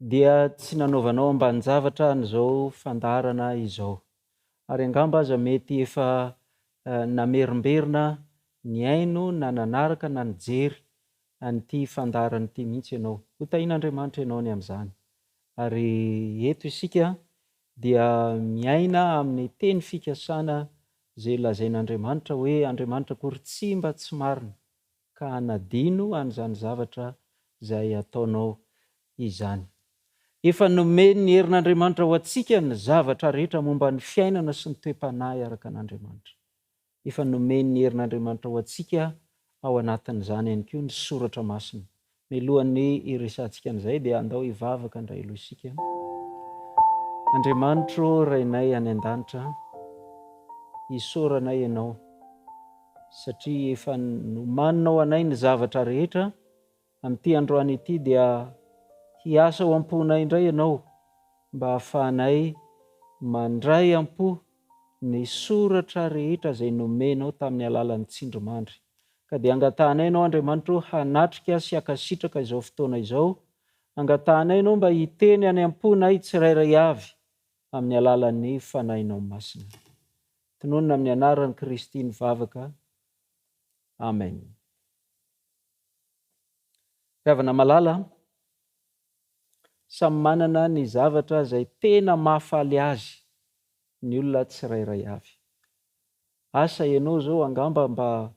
dia tsy nanaovanao ambanin-javatra an'izao fandaharana izao, ary angamba aza mety efa namerimberina nihaino na nanaraka na nijery an'ity fandaharana ity mihitsy ianao. Hotahian'Andriamanitra ianao ny amin'izany. Ary eto isika dia miaina amin'ny teny fikasana izay lazain'Andriamanitra hoe Andriamanitra akory tsy mba tsy marina. ka hanadino an'izany zavatra izay ataonao izany. Efa nomen'ny herin'Andriamanitra ho antsika ny zavatra rehetra momba ny fiainana sy ny toe-panahy araka an'Andriamanitra. Efa nomen'ny herin'Andriamanitra ho antsika ao anatin'izany ihany koa ny soratra masina Mialohan'ny hiresahantsika an'izay dia andao hivavaka indray aloha isika. Andriamanitro Rainay any an-danitra, isaoranay Ianao satria efa nomaninao anay ny zavatra rehetra, amin'ity androany ity dia hiasa ao am-ponay indray Ianao mba hahafahanay mandray am-po ny soratra rehetra izay nomenao tamin'ny alalan'ny tsindrimandry. Ka dia angatahanay Ianao, Andriamanitra ô, hanatrika sy hankasitraka izao fotoana izao. Angatahanay Ianao mba hiteny any am-ponay tsirairay avy amin'ny alalan'ny Fanahinao Masina. Tononina amin'ny anaran'i Kristy ny vavaka. Amen. Ry havana malala, samy manana ny zavatra izay tena mahafaly azy ny olona tsirairay avy. Asa ianao zao angamba mba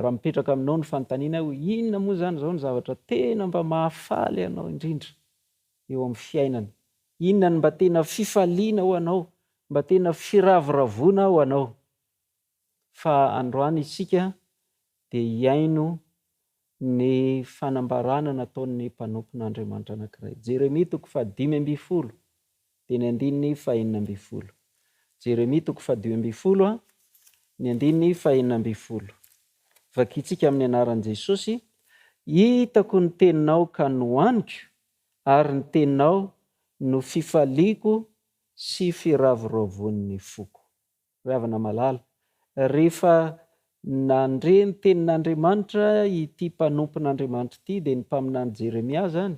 raha mipetraka aminao ny fanontaniana hoe inona moa zany zao ny zavatra tena mba mahafaly anao indrindra eo amin'ny fiainana? Inona ny mba tena fifaliana ho anao? Mba tena firavoravoana ho anao? Fa androany isika dia hiaino Ny fanambarana nataon'ny mpanompon'Andriamanitra anankiray. Jeremia toko fahadimy ambin'ny folo, dia ny andininy fahenina ambin'ny folo. Jeremia toko fahadimy ambin'ny folo, ny andininy fahenina ambin'ny folo. Vakintsika amin'ny anaran'i Jesosy, Hitako ny teninao ka nohaniko, ary ny teninao no fifaliako sy firavoravoan'ny foko. Ry havana malala, rehefa nandre ny tenin'Andriamanitra ity mpanompon'Andriamanitra ity, dia ny mpaminany Jeremia izany,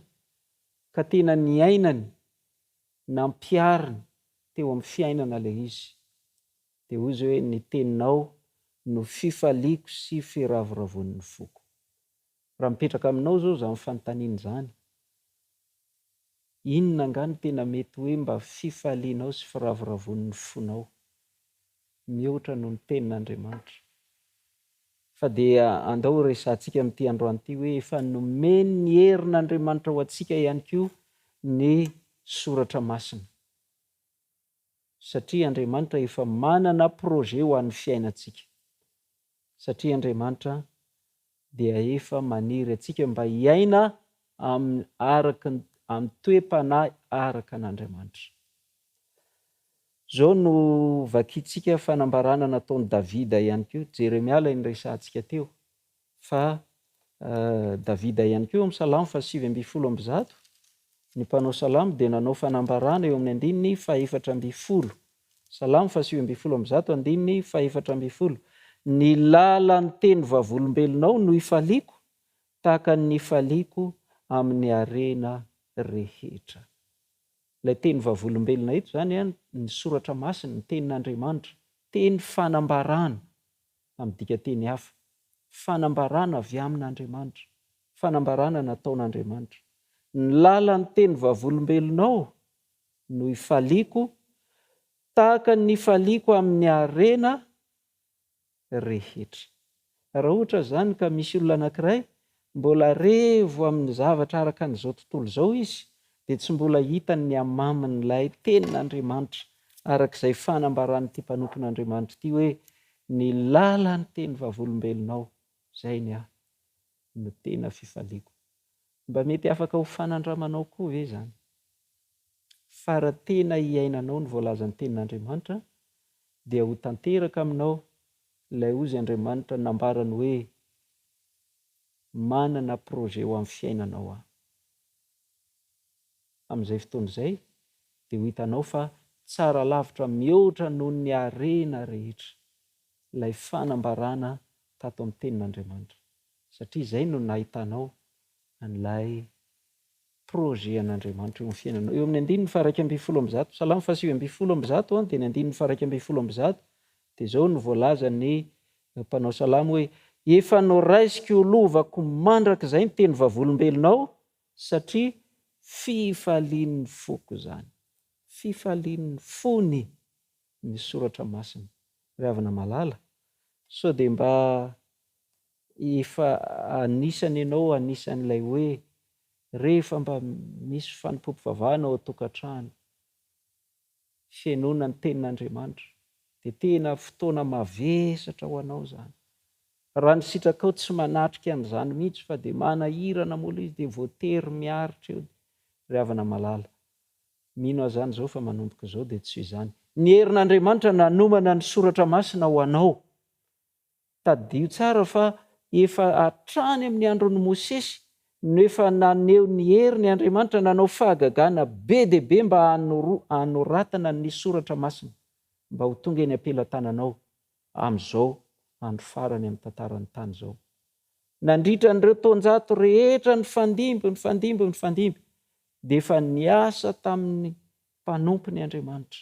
ka tena niainany, nampihariny teo amin'ny fiainana ilay izy, dia hoy izy hoe, Ny teninao no fifaliako sy firavoravoan'ny foko. Raha mipetraka aminao izao izany fanontaniana izany, inona angaha no tena mety hoe mba fifalianao sy firavoravoan'ny fonao, mihoatra noho ny Tenin'Andriamanitra? Fa dia andao horesahantsika amin'ity androany ity hoe efa nomen'ny herin'Andriamanitra ho antsika ihany koa ny Soratra Masina. satria Andriamanitra efa manana projet ho an'ny fiainantsika, satria Andriamanitra dia efa maniry antsika mba hiaina amin'ny araka ny amin'ny toe-panahy araka an'Andriamanitra. Izao no vakintsika fanambarana nataon'i Davida ihany koa, Jeremia ilay niresahantsika teo, Fa Davida ihany koa eo amin'ny Salamo fahasivy ambin'ny folo amby zato, ny mpanao salamo dia nanao fanambarana eo amin'ny andininy fahefatra ambin'ny folo. Salamo fahasivy ambin'ny folo amby zato, andininy fahefatra ambin'ny folo. Ny lalan'ny teny vavolombelonao no ifaliako, tahaka ny nifaliako amin'ny harena rehetra. Ilay teny vavolombelona eto izany ny soratra masina, ny tenin'Andriamanitra, teny fanambarana tamin'ny dikanteny hafa, fanambarana avy amin'Andriamanitra, fanambarana nataon'Andriamanitra. Ny lalan'ny teny vavolombelonao no ifaliako, tahaka ny ifaliako amin'ny harena rehetra. Raha ohatra izany ka misy olona anankiray Mbola revo amin'ny zavatra araka an'izao tontolo izao izy, dia tsy mbola hitany ny hamamin'ilay Tenin'Andriamanitra, araka izay fanambaran'ity mpanompon'Andriamanitra ity hoe, Ny lalan'ny teny vavolombelonao, izay ny ahy, no tena fifaliako. Mba mety afaka ho fanandramanao koa ve izany? Fa raha tena iainanao ny voalazan'ny Tenin'Andriamanitra, dia ho tanteraka aminao Ilay hozy Andriamanitra nambarany hoe, Manana projet ho amin'ny fiainanao Aho. Amin'izay fotoana izay, dia ho hitanao fa tsara lavitra mihoatra noho ny harena rehetra ilay fanambarana tato amin'ny Tenin'Andriamanitra, satria izay no nahitanao an'ilay Projet an'Andriamanitra eo amin'ny fiainanao. Eo amin'ny andininy faharaika ambin'ny folo amby zato, Salamo fahasivy ambin'ny folo amby zato dia ny andininy faharaika ambin'ny folo amby zato dia izao no voalazan'ny eh, mpanao salamo hoe efa noraisiko ho lovako mandrakizay ny teny vavolombelonao satria fifalian'ny foko izany. Fifalian'ny fony ny soratra masina. Ry havana malala, sao dia mba Efa anisany ianao anisan'ilay hoe rehefa mba misy fanompoam-pivavahana ao an-tokantrano, fihenoana ny Tenin'Andriamanitra, dia tena fotoana mavesatra ho anao izany. Raha ny sitrakao tsy manatrika an'izany mihitsy fa dia manahirana mola izy dia voatery miaritra eo. Ry havana malala, mino aho izany izao fa manomboka izao dia tsy izany. Ny herin'Andriamanitra nanomana ny Soratra Masina ho anao. Tadidio tsara fa efa hatrany amin'ny andron'i Mosesy no efa naneho ny heriny Andriamanitra nanao fahagagana be dia be mba hanoratana ny Soratra Masina mba ho tonga eny am-pelatananao amin'izao andro farany amin'ny tantaran'ny tany izao. Nandritra an'ireo taonjato rehetra nifandimby, nifandimby, nifandimby dia efa niasa tamin'ny mpanompony Andriamanitra.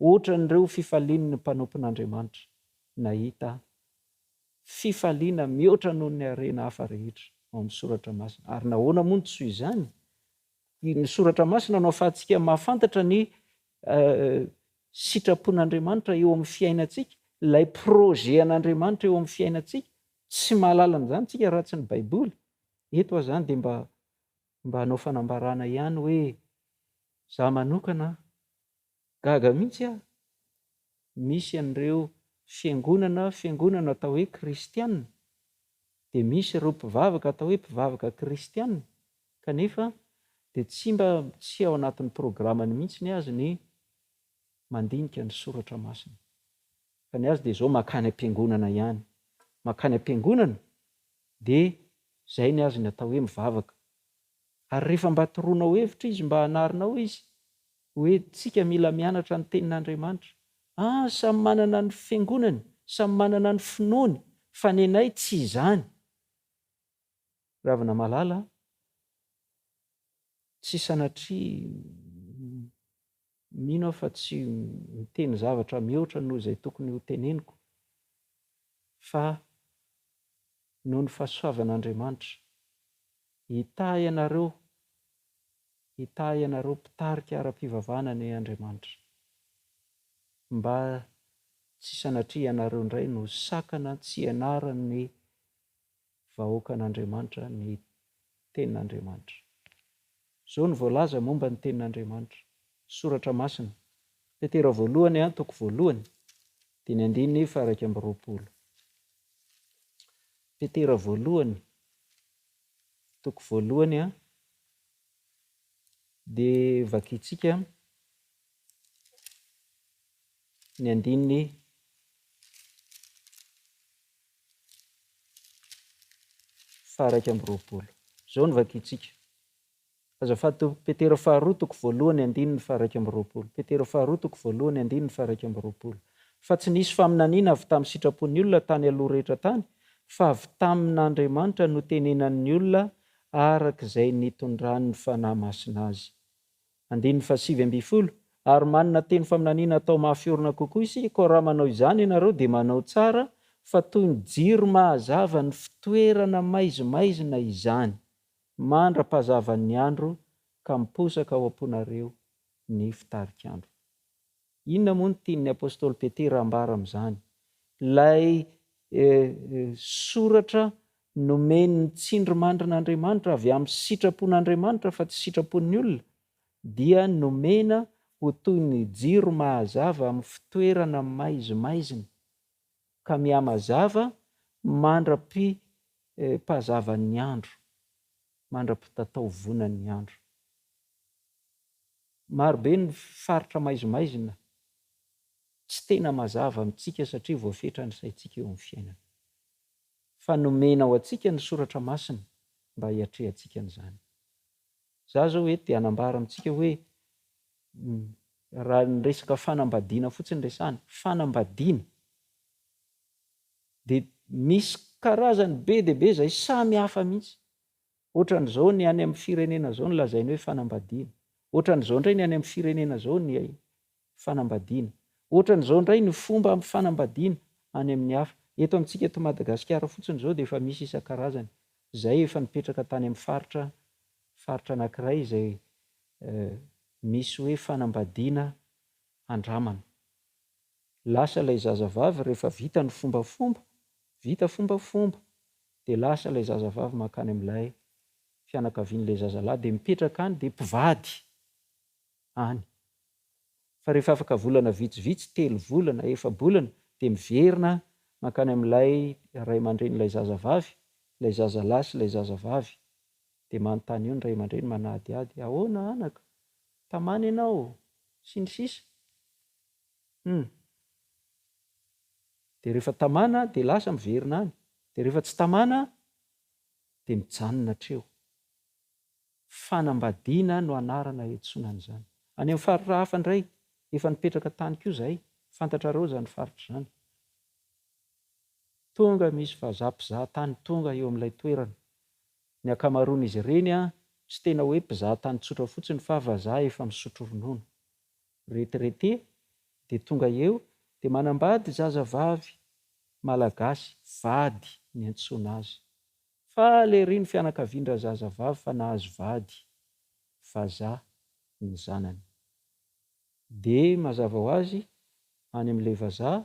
Ohatran'ireo fifalian'ny mpanompon'Andriamanitra nahita fifaliana mihoatra noho ny harena hafa rehetra ao amin'ny Soratra Masina. Ary nahoana moa no tsy izany? Ny Soratra Masina no ahafahantsika mahafantatra ny sitrapon'Andriamanitra eo amin'ny fiainantsika, ilay projet an'Andriamanitra eo amin'ny fiainantsika. Tsy mahalala an'izany isika raha tsy ny Baiboly. Eto aza izany dia mba mba hanao fanambarana ihany hoe, izaho manokana Gaga mihitsy aho, misy an'ireo fiangonana fiangonana atao hoe kristiana, dia misy ireo mpivavaka atao hoe mpivavaka kristiana, kanefa dia tsy mba tsy ao anatin'ny programany mihitsy ny azy ny mandinika ny soratra masina, fa ny azy dia izao makany am-piangonana ihany, makany am-piangonana dia izay ny azy ny atao hoe mivavaka. Ary rehefa mba toroanao hevitra izy mba hanarinao izy hoe tsika mila mianatra ny tenin'Andriamanitra ah samy manana ny fiangonany samy manana ny finoany fa nenay tsy izany Ravinamalala ah tsy sanatria Mino aho fa tsy miteny zavatra mihoatra noho izay tokony hoteneniko fa noho ny fahasoavan'Andriamanitra. Hitahy anareo, hitahy anareo mpitarika ara-pivavahana anie Andriamanitra mba tsy sanatria ianareo indray no sakana tsy hianara ny vahoakan'Andriamanitra ny Tenin'Andriamanitra. Izao no voalaza momba ny Tenin'Andriamanitra, Soratra Masina, Petera Voalohany an, toko voalohany, dimy andininy faha-iraika amby roapolo. Petera Voalohany, toko voalohany an, dia vakintsika ny andininy faha-iraika amby roapolo. Izao no vakintsika. Azafady tompoko, Petera faharoa toko voalohany andininy faha-iraika amby roapolo. Petera faharoa toko voalohany andininy faha-iraika amby roapolo. Fa tsy nisy faminaniana avy tamin'ny sitrapon'ny olona tany aloha rehetra tany, fa avy tamin'Andriamanitra no tenenan'ny olona araka izay nitondran'ny Fanahy Masina azy. Andininy fahasivy ambin'ny folo, Ary manana teny faminaniana atao mafy orina kokoa isika, koa raha manao izany ianareo, dia manao tsara, fa toy ny jiro mahazava ny fitoerana maizimaizina izany, mandra-pahazavan'ny andro, ka miposaka ao am-ponareo ny fitarik'andro. Inona moa no tian'ny apostoly Petera ambara amin'izany? Ilay soratra nomen'ny tsindrimandrin'Andriamanitra avy amin'ny sitrapon'Andriamanitra fa tsy sitrapon'ny olona dia nomena ho toy ny jiro mahazava amin'ny fitoerana maizimaizina. ka mihamazava mandra-pipazavan'ny andro, mandra-pitataovonan'ny andro. Marobe ny faritra maizimaizina tsy tena mazava amintsika satria voafetra ny saintsika eo amin'ny fiainana. Fa nomena ho antsika ny Soratra Masina mba hiatrehantsika an'izany. Izaho izao eto dia hanambara amintsika hoe raha ny resaka fanambadiana fotsiny resahana, fanambadiana, dia misy karazany be dia be izay samy hafa mihitsy. Ohatran'izao ny any amin'ny firenena izao no lazainy hoe fanambadiana. Ohatran'izao indray ny any amin'ny firenena izao ny fanambadiana. Ohatran'izao indray ny fomba ampifanambadiana any amin'ny hafa. Eto amintsika eto Madagasikara fotsiny izao dia efa misy isan-karazany izay efa nipetraka tany amin'ny faritra faritra anankiray izay misy hoe fanambadiana andramana. Lasa ilay zazavavy rehefa vita ny fombafomba, vita fombafomba dia lasa ilay zazavavy mankany amin'ilay fianakavian'ilay zazalahy dia mipetraka any dia mpivady. any. Fa rehefa afaka volana vitsivitsy, telo volana na efa-bolana, dia miverina mankany amin'ilay ray aman-drenin'ilay zazavavy, ilay zazalahy sy ilay zazavavy. Dia manontany eo ny ray aman-dreny manadihady, Ahoana anaka? Tamana ianao? Sy ny sisa. Hum. Dia rehefa tamana dia lasa miverina any. Dia rehefa tsy tamana dia mijanona hatreo. Fanambadiana no anarana hiantsoana an'izany. Any amin'ny faritra hafa indray, efa nipetraka tany koa izahay, fantatrareo izany faritra izany. Tonga misy vazaha mpizaha tany tonga eo amin'ilay toerana. Ny ankamaroan'izy ireny tsy tena hoe mpizaha tany tsotra fotsiny fa vazaha efa misotro ronono. Retraité dia tonga eo dia manambady zazavavy malagasy vady niantsoana azy. Faly ery ny fianakavian-drazazavavy fa nahazo vady vazaha ny zanany. Dia mazava ho azy any amin'ilay vazaha,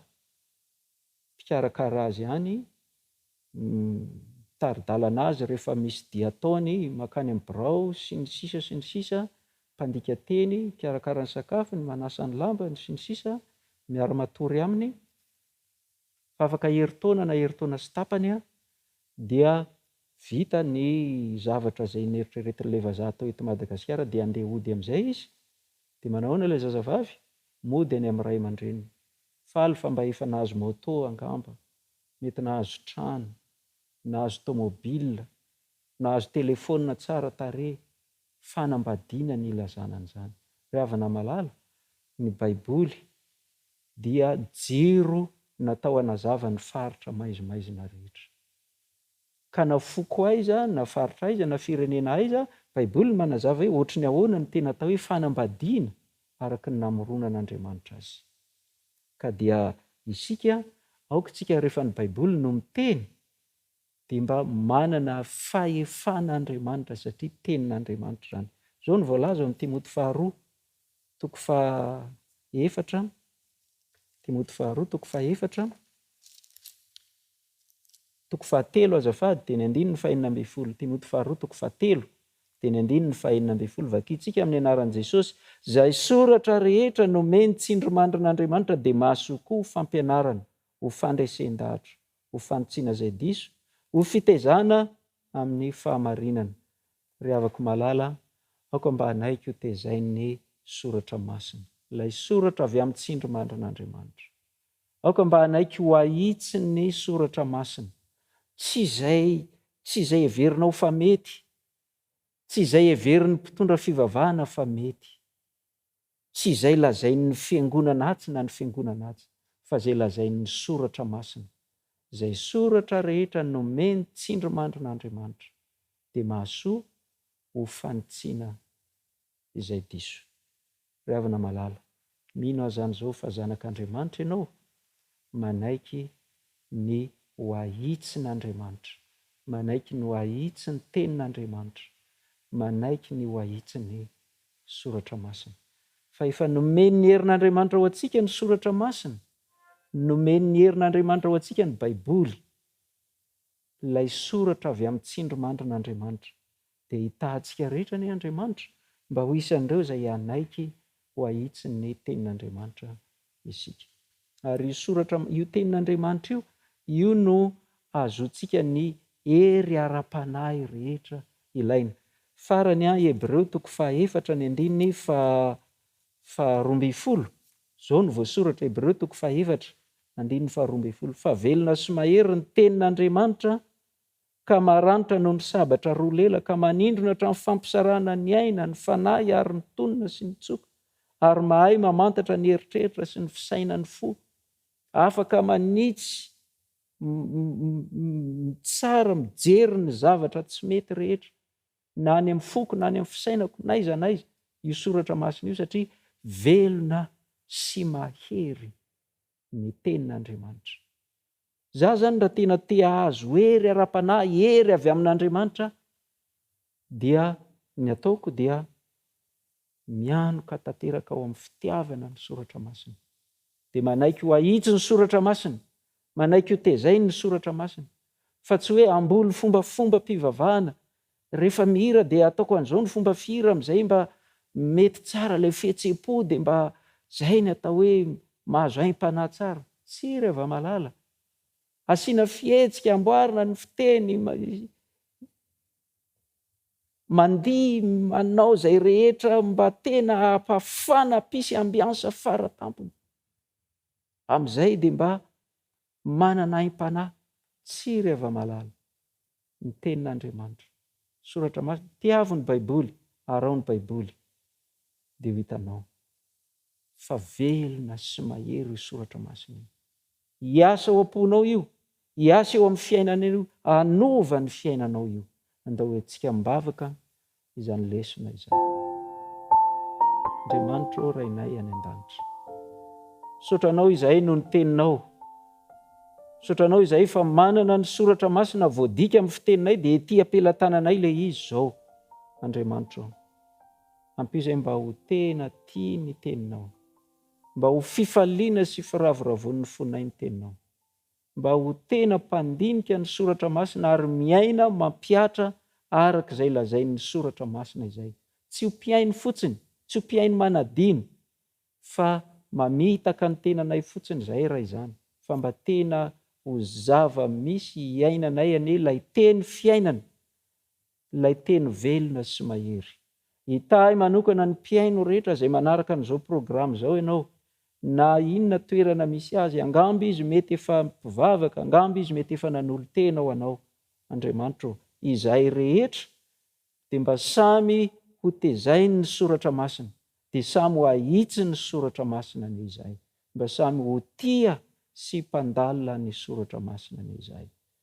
mpikarakara azy any, mitari-dalana azy rehefa misy dia ataony mankany amin'ny birao sy ny sisa sy ny sisa, mpandika teny, mikarakara ny sakafony, manasa ny lambany sy ny sisa, miara-matory aminy. fa afaka herintaona na herintaona sy tapany dia vita ny zavatra izay neritreretin'ilay vazaha atao eto Madagasikara dia andeha hody amin'izay izy, dia manao ahoana ilay zazavavy? mody any amin'ny ray aman-dreniny, faly fa mba efa nahazo moto angamba, mety nahazo trano, nahazo tomobila, nahazo telefaonina tsara tarehy, fanambadiana ny ilazana an'izany. Ry havana malala, ny Baiboly dia jiro natao hanazava ny faritra maizimaizina rehetra. Ka na foko aiza, na faritra aiza, na firenena aiza, Baiboly no manazava hoe hoatry ny ahoana ny tena atao hoe fanambadiana araka ny namoronan'Andriamanitra azy. Ka dia isika, aoka isika rehefa ny Baiboly no miteny, dia mba manana fahefana Andriamanitra satria tenin'Andriamanitra izany. Izao no voalaza ao amin'ny Timoty faharoa toko fahaefatra, Timoty faharoa toko fahaefatra, toko fahatelo azafady, dia ny andininy fahenina ambin'ny folo, Timoty faharoa toko fahatelo, dia ny andininy fahenina ambin'ny folo, vakintsika amin'ny anaran'i Jesosy, izay soratra rehetra nomeny tsindrimandrin'Andriamanitra dia mahasoa koa ho fampianarana, ho fandresen-dahatra, ho fanitsiana izay diso, ho fitaizana amin'ny fahamarinana. Ry havako malala, aoka mba hanaiky ho tezain'ny Soratra Masina, ilay Soratra avy amin'ny tsindrimandrin'Andriamanitra. Aoka mba hanaiky ho ahitsin'ny Soratra Masina, tsy izay, tsy izay heverinao fa mety, tsy izay heverin'ny mpitondra fivavahana fa mety, Tsy izay lazain'ny fiangonana atsy na ny fiangonana atsy, fa izay lazain'ny Soratra Masina. Izay soratra rehetra nomen'ny tsindrimandrin'Andriamanitra, dia mahasoa ho fanitsiana izay diso. Ry havana malala, mino aho izany izao fa zanak'Andriamanitra ianao, manaiky ny ho ahitsin' Andriamanitra, manaiky ny ho ahitsin' ny tenin' Andriamanitra, manaiky ny ho ahitsin' ny Soratra Masina. Fa efa nomen' ny herin' Andriamanitra ho antsika ny Soratra Masina, nomen' ny herin' Andriamanitra ho antsika ny Baiboly. Ilay soratra avy amin'ny tsindrimandrin'Andriamanitra. Dia hitaha antsika rehetra anie Andriamanitra mba ho isan'ireo izay hanaiky ho ahitsy ny Tenin'Andriamanitra isika. Ary io soratra, io Tenin'Andriamanitra io, io no ahazoantsika ny hery ara-panahy rehetra ilaina. Farany, Hebreo toko faha efatra ny andininy faha faharoa ambin'ny folo, Izao no voasoratra, Hebreo toko fahefatra, andininy faharoa ambin'ny folo, Fa velona sy mahery ny tenin'Andriamanitra, ka maranitra noho ny sabatra roa lela, ka manindrona hatramin'ny fampisarahana ny aina, ny fanahy ary ny tonina sy ny tsoka, ary mahay mamantatra ny eritreritra sy ny fisainan'ny fo, afaka manitsy, mitsara, mijery ny zavatra tsy mety rehetra. na any amin'ny foko na any amin'ny fisainako n'aiza n'aiza io soratra masina io satria velona sy mahery ny tenin'Andriamanitra. Za zany raha tena te ahazo hery ara-panahy, hery avy amin'Andriamanitra dia ny ataoko dia mianoka tanteraka ao amin'ny fitiavana ny soratra masina, dia manaiky ho ahitsy ny soratra masina, manaiky ho tezainy ny soratra masina, fa tsy hoe hamboly fombafombam-pivavahana, rehefa mihira dia ataoko an'izao ny fomba fihira amin'izay mba mety tsara ilay fihetsem-po, dia mba izay ny atao hoe mahazo aim-panahy tsara. Tsia, ry hava-malala, asiana fihetsika, amboarina ny fiteny, Mandihy manao izay rehetra mba tena hampafana mpisy ambiansa fara tampony. Amin'izay dia mba manana aim-panahy tsy ry hava-malala. Ny Tenin'Andriamanitra. Soratra Masina. Tiavo ny Baiboly, arao ny Baiboly dia ho hitanao fa velona sy mahery io Soratra Masina io. Hiasa ao am-ponao io, hiasa eo amin'ny fiainanao io, hanova ny fiainanao io. Andao hoentintsika am-bavaka izany lesona izany. Andriamanitra ô Rainay any an-danitra, misaotra Anao izahay noho ny Teninao. Misaotra Anao izahay fa manana ny soratra masina voadika amin'ny fiteninay dia ety am-pelatananay ilay izy izao. Andriamanitra ô, ampio izay mba ho tena tia ny Teninao. Mba ho fifaliana sy firavoravoan'ny fonay ny Teninao. Mba ho tena mpandinika ny Soratra Masina ary miaina mampihatra araka izay lazain'ny Soratra Masina izay. Tsy ho mpihaino fotsiny, tsy ho mpihaino manadino, fa mamitaka ny tenanay fotsiny izahay raha izany, fa mba tena ho zava-misy iainanay anie ilay Teny fiainana, Ilay teny velona sy mahery. Hitahy manokana ny mpihaino rehetra izay manaraka an'izao programa izao ianao, na inona toerana misy azy, angamba izy mety efa mpivavaka, angamba izy mety efa nanolo-tena ho anao. Andriamanitra ô, izahay rehetra dia mba samy hotezainy ny soratra masina, dia samy ho ahitsy ny soratra masina anie izahay, mba samy ho tia sy mpandalina ny soratra masina anie izahay.